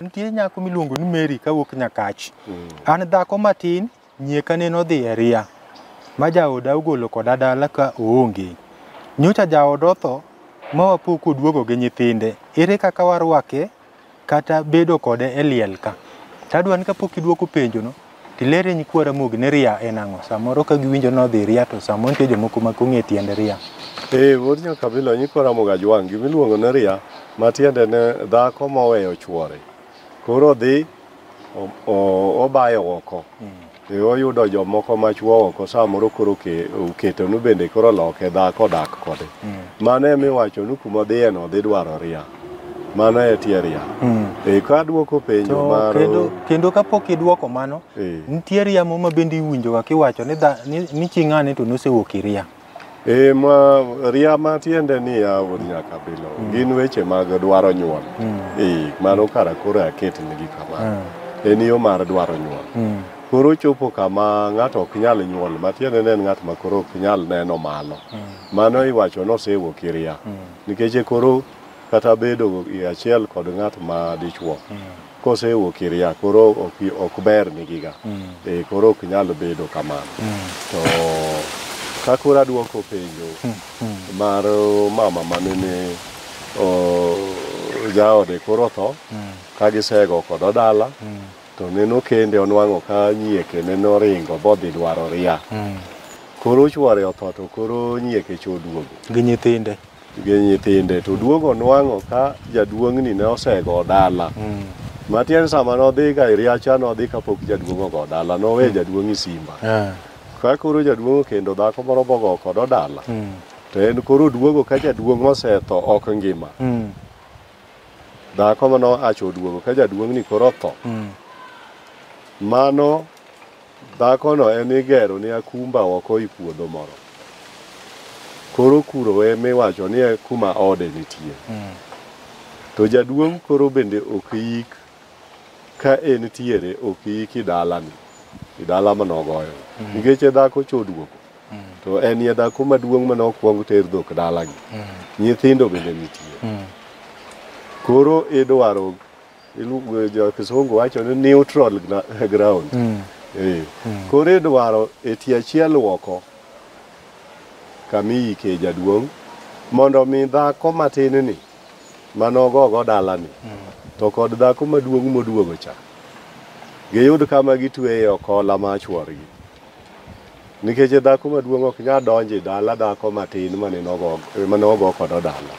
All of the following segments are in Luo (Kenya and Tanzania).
nitie nyako miluongo ni Mary kawuok Nyakach. An dhako matin Nyieka nene odhi e ria, ma jaoda ogolo koda dala ka oonge. Nyocha jaoda otho, ma wapo koduogo gi nyithinde. Ere kaka warwake kata bedo kode e liel ka? To adwa ni kapok idwoko penjono, to iler e nyikwa Ramogi ni ria en ang'o. Samoro ka giwinjo ni odhi ria to samoro nitie jomoko ma ok ong'e tiend ria. Ee, wuod Nyakabilo, nyikwa Ramogi Ajwang', gima iluongo ni ria, matiende ni dhako moweyo chwore. Koro odhi obayo oko e oyudo jomoko machuo oko samoro koro oketo nu bende koro loke dhako dak kode mm. mano ema iwacho ni kuma dhiye no dhi dwaro ria mano e tie ria mm. e ka duoko penjo mar kendo, kendo kapok iduoko mano e. nitie riamo ma bende iwinjoga kiwacho ni, ni, ni ching'ane to nosewuok iria E, ma ria ma tiende ni ya wuod nyaka bilo mm. gin weche mag dwaro nyuol mm. e, mano kara koro aket nigi kama mm. Ah. en yo mar dwaro nyuol mm. koro chopo kama ng'ato ok nyal nyuol ma tiende ne en ng'at ma koro ok nyal neno malo mm. mano iwacho ni osewuok iria mm. nikech koro kata bedo achiel kod ng'at ma dichuo mm. kosewuok ir yath koro ok, ok ber nigiga e, koro ok nyal bedo kamano to ka koro adwoko penjo mar uh, mama manene uh, jaode koro tho ka gisego kodo dala to neno kende onwang'o ka nyieke nene oringo bodhi dwaro ria koro chwore otho to koro nyieke choduogo gi nyithinde gi nyithinde to duogo onwang'o ka jaduong'ni ne osego dala mm. matiende sama nodhi ka iriacha nodhi kapok jaduong' ogo dala nowe mm. jaduong' isimba yeah. ka koro jaduong' okendo dhako moro bogo kodo dala mm. to en koro duogo ka jaduong' osetho ok ngima mm. dhako mano acho oduogo ka jaduong'ni koro otho mm. mano Dhakono ema igero ne akumba oko i puodho moro. Koro kuro ema iwacho ni e kuma ode nitie. Mm. To jaduong' koro bende ok yik ka en tiere ok yik i dalani, i dala mane ogoyo. Mm. Nikech e dhako choduogo. Mm. To en ye dhako maduong' mane okwong ter dhok dalagi. Mm. Nyithindo bende nitie. Mm. Koro idwaro Iluongo jo kisungu wacho ni neutral gna- ground. Eh. Koro idwaro e tie achiel woko kama iyike jaduong' mondo mi dhako matin ni manogogo dalani to kod dhako maduong' moduogo cha giyud kama gitweye okola ma chworgi. Nikech dhako maduong' ok nyal donjo e dala dhako matin mane nogo mane ogo kodo dala.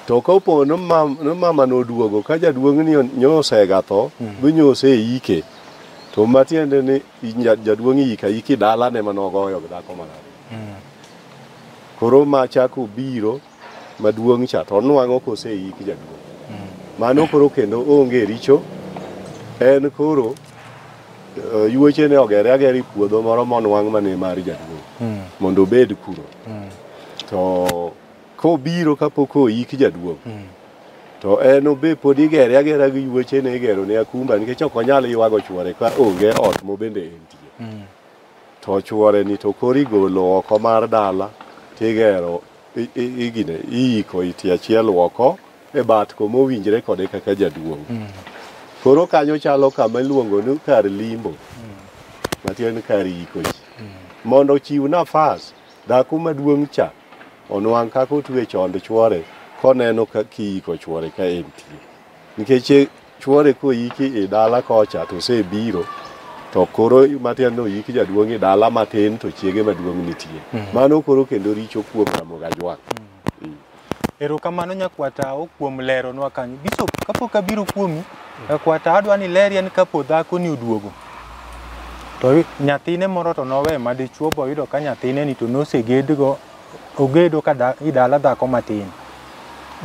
To kopo ni mam- ni mama noduogo ka jaduong' ni nyosega tho, binyose e ike. To matiende ni inya- jaduong' iyika iki dalane mane ogoyo gi dhako marach. Koro ma chako biro maduong' cha to onwang'o koseik jaduong'. Mano koro kendo onge richo, en koro eh, yuoche ne ogere agera e puodho moro monwang' mane mar jaduong' mondo obed kuro. To kobiro kapok oik jaduong' to en obe pod igere agera gi yuoche ne igero ne akumba nikech ok onyal ywago chwore ka onge ot mobende entie. To chuore ni to koro igolo oko mar dala tigero igine iiko iti achiel oko e bat ko mowinjre kode kaka jaduong'. Mm. Koro kanyo chalo kama iluongo ni kar limbo mm. matiende kar iko ji mm. mondo ochiw nafas dhako maduong' cha onwang' kaka otwe chond chuore koneno ka kiiko chuore ka entie nikech Chuore koyiki e dala kocha to osebiro to koro matiende ni oyik jaduong' e dala matin to chiege maduong' nitie. Mano koro kendo richo kuom Ramogi Ajwang'. Eh. Erokamano nyakwata o kuom leronwa kanyo. Bishop, kapok abiro kuomi, nyakwata adwa ni leri en kapo dhako ni oduogo. To nyathine moro to nowe madichuo boyudo ka nyathine ni to nosegedgo ogedo ka da, i dala dhako matin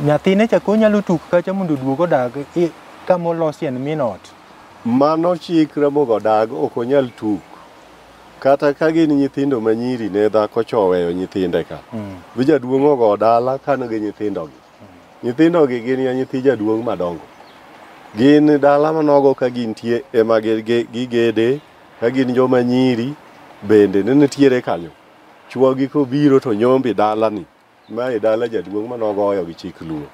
nyathine chako nyalo tuk kacha mondo oduog odag i- kama olosi en min ot mano chik ramogi odag ok onyal tuk kata ka gin nyithindo ma nyiri ne dhako cha oweyo nyithinde ka Mm. bi jaduong' ogo dala kan gi nyithindogi nyithindogi gin ya nyithi jaduong' madongo gin dala manogo ka gintie ema gi- gi- gigede ka gin joma nyiri bende ne nitiere kanyo Chuogi kobiro to nyombi dalani, ma e dala jaduong' ma nogoyo gi chik luo.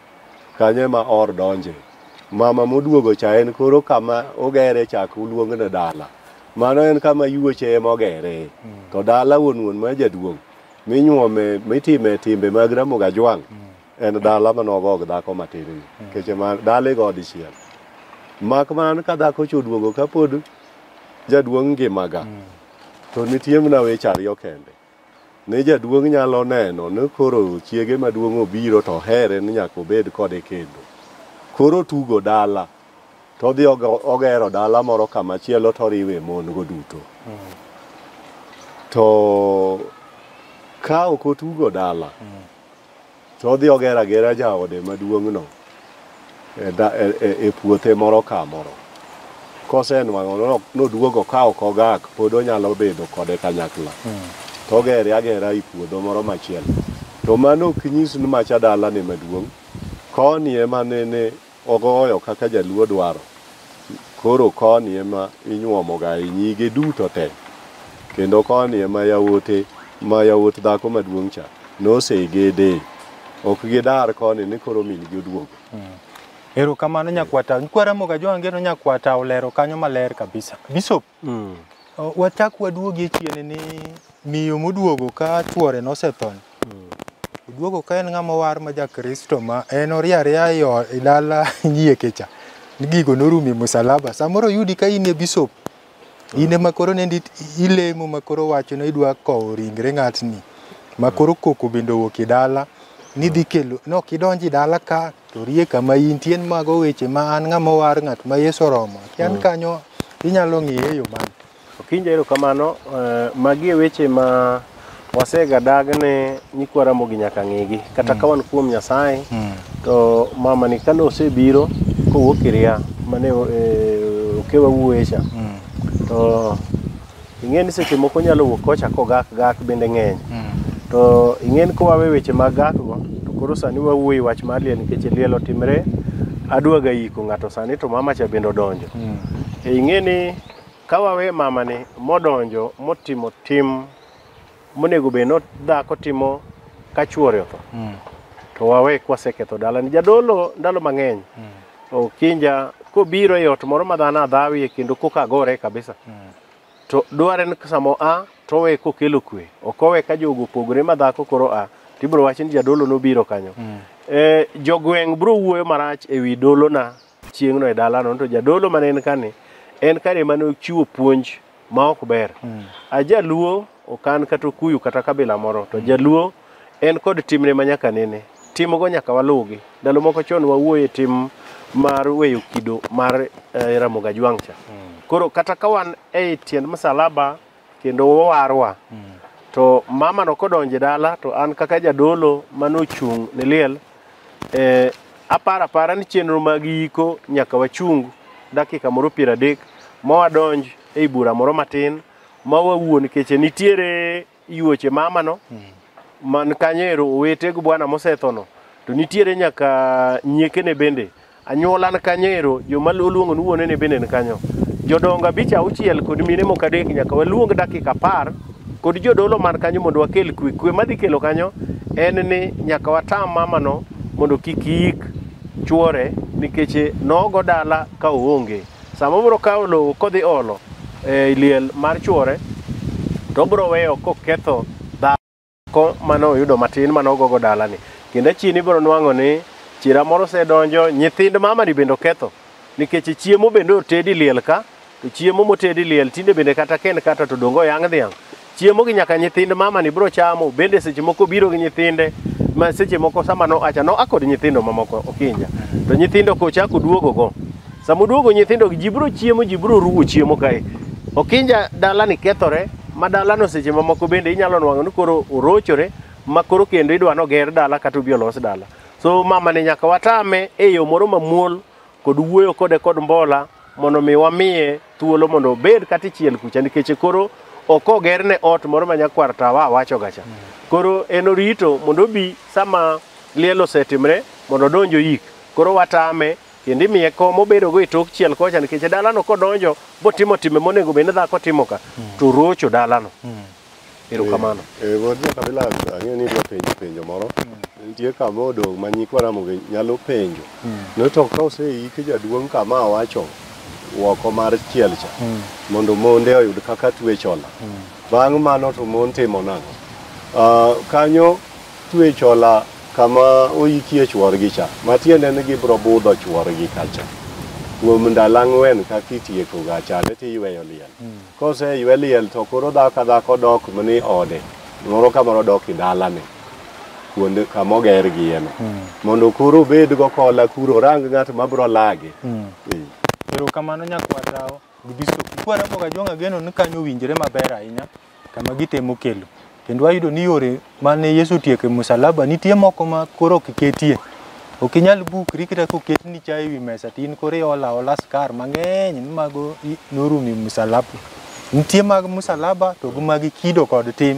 Kanyo ema or donje. Mama moduogo cha en koro kama ogere chak uluong ne dala. Mano en kama yuoche ema ogere. To dala wuon wuon ma jaduong' minyuome mitime timbe mag Ramogi Ajwang' en dala ma nogo gi dhako matin ni. Nikech ma dala igo dichiel. Mak man ka dhako cha oduogo kapod jaduong' ngimaga. To nitie mana weche ariyo kende. Ne jaduong' nyalo neno ni koro chiege maduong' obiro to ohere ni nyaka obed kode kendo. Koro otugo dala to odhi ogero dala moro kama chielo to oriwe mon go duto. To ka ok otugo dala, To odhi ogero agera jaode maduong'no e da- e- e- e puothe moro ka moro. Kosenwang'o no- noduogo ka ok ogak, pod onyalo bedo kode kanyakla. To ogere agera i puodho moro machielo. To mano ok nyis ni macha dalane maduong'. Koni ema nene Ogoyo kaka jaluo dwaro. Koro koni ema inyuomo ga e nyige duto te. Kendo koni ema yawote ma yawot dhako maduong' cha nosegedee. Ok gidar koni ni koro min gi oduogo. Erokamano Nyakwata. Nyikwa Ramogi Ajowa Ngeno Nyakwata olero kanyo maler kabisa. Bishop, Mm. Wachak waduogie chien ni miyo moduogo ka chuore nosethon. Mm. Oduogo ka en ng'ama war ma ja Kristo ma en orie aria e dala nyie kecha. Gigo norumo e musalaba. Samoro yudi ka in e bishop. Mm. In ema koro ne ilemo ma koro wacho ni idwa kowo ringre ng'atni. Ma koro koko bende owuok e dala. Nidhi kelo, no kidonji dala ka To rie kama intie en mago weche ma an ng'ama owar ng'at ma Yesu oromo. Ki an kanyo inyalo ng'iye e yo mane? Okinja erokamano. Eh, Magi e weche ma wasegadag ne nyikwa Ramogi nyaka ng'igi. Kata ka wan kuom Nyasaye to mamani kane osebiro kowuok Iria mane eh, okewa wuoye cha to ing'e ni seche moko nyalo wuok kocha kogak gak bende ng'eny to ing'e ni kowawe weche mag gakgo to koro sani wawuoyi wach mar liel nikech liel otimre adwaga yiko ng'ato sani to mama cha bende odonjo e ing'e ni kawawe mamani modonjo motimo tim monego bed ni dhako timo ka chuore otho mm. to wawe kwaseketho dalani jadolo ndalo mang'eny mm. okinja kobiro e ot moro ma dhano adhawie kendo koka gore kabisa mm. to dware ni samo a to owe kokelo kwe ok owe ka jogo opogore ma dhako koro a tibiro wacho ni jadolo nobiro kanyo mm. e, jogweng' biro wuoyo marach e wi dolona chieng'no e dalano to jadolo mane en kani en kare ema ne ochiwo puonj ma ok ber a jaluo ok an kata okuyu kata kabila moro to jaluo en kod timne ma nyaka nene timogo nyaka waluwgi ndalo moko chon wawuoye tim mar weyo kido mar eh, ramogi ajwang' cha koro kata ka wan e tiend msalaba kendo owarwa to mama no kodonjo e dala to an kaka jadolo mane ochung' ne liel eh, aparo apara ni chenro mag yiko nyaka wachung dakika moro piero adek ma wadonj ei bura moro matin ma wawuo nikech nitiere yuoche mama no man kanyo ero owete gi bwana mosethono to nitiere nyaka nyiekene bende Anyuola ni kanyo ero, joma oluongo ni wuone ne bende ni kanyo. Jodongo abich auchiel kod mine moko adek nyaka waluong dakika apar kod jodolo man kanyo mondo wakel kwe. Kwe madhi kelo kanyo en ni nyaka watam mamano mondo kik yik chuore nikech nogo dala ka oonge. Sama obiro kawo lowo kodhi olo e liel mar chuore to obiro weyo koketho ko mano oyudo matin mano ogogo dalani kendo achini ibiro nwang'o ni chira moro osedonjo nyithind mamani bende oketho nikech chiemo bende otedi liel ka to chiemo motedi liel tinde bende kata ken kata to dongo yang' dhiang' chiemo gi nyaka nyithind mamani biro chamo bende seche moko biro gi nyithinde ma seche moko sama no acha no akod nyithindo mamoko okinja to nyithindo kochako duogogo Sama uduogo nyithindo, ji biro chiemo, ji biro ruwo chiemo kae. Okinja dalani kethore, ma dalano seche mamoko bende inyalo nwang'o ni koro orochore, ma koro kendo idwa ni oger dala kata obi olos dala. So mamani nyaka watame e yo moro mamuol kod wuoyo kode kod mbola mondo mi wamiye thuolo mondo obed kata ichiel kucha nikech koro ok ogerne ot moro ma nyakwar tawa awachoga cha. Koro en orito mondo obi sama liel osetimre mondo odonj oyik. Koro watame kendo imiye kom obedogo e tok chiel kocha nikech e dalano kodonjo botimo timbe monego bed ni dhako timo ka to rocho dalano erokamano Eh, Wuod Nyakabila ang'eyo ni idwa penjo penjo moro. Nitie kama odong' ma nyikwa Ramogi nyalo penjo. No to ka oseiki jaduong' kama awacho woko mar chiel cha mondo monde oyud kaka twech ola. Bang' mano to mon timo nang'o? Ah, kanyo twech ola Kama oyikie chworgi cha, matiende ni gibro budho chworgi kacha. Kuom ndalo ang'wen ka kitieko ga chande tiyweyo liel. Hmm. Kose ywe liel to koro dhako ka dhako dok ni ode. Moro ka moro dok i dalane. kuonde kama oger gi ema hmm. mondo koro obed go kola kuro rang ng'at ma bro lage. Hmm. Erokamano nyakwar Tao. Gibiso Kikwaramo ka Jong'a geno ni kanyo owinjore maber ahinya kama gitemo kelo. Kendo wayudo ni yore mane Yesu otieko e musalaba nitie moko ma koro ok ketie. Ok inyal bukri kata koket ni chai ewi mesa to in koro iolo aola skar mang'eny ni mago i- norumo e musalaba. Nitie mag musalaba to gi mag kido kod tim.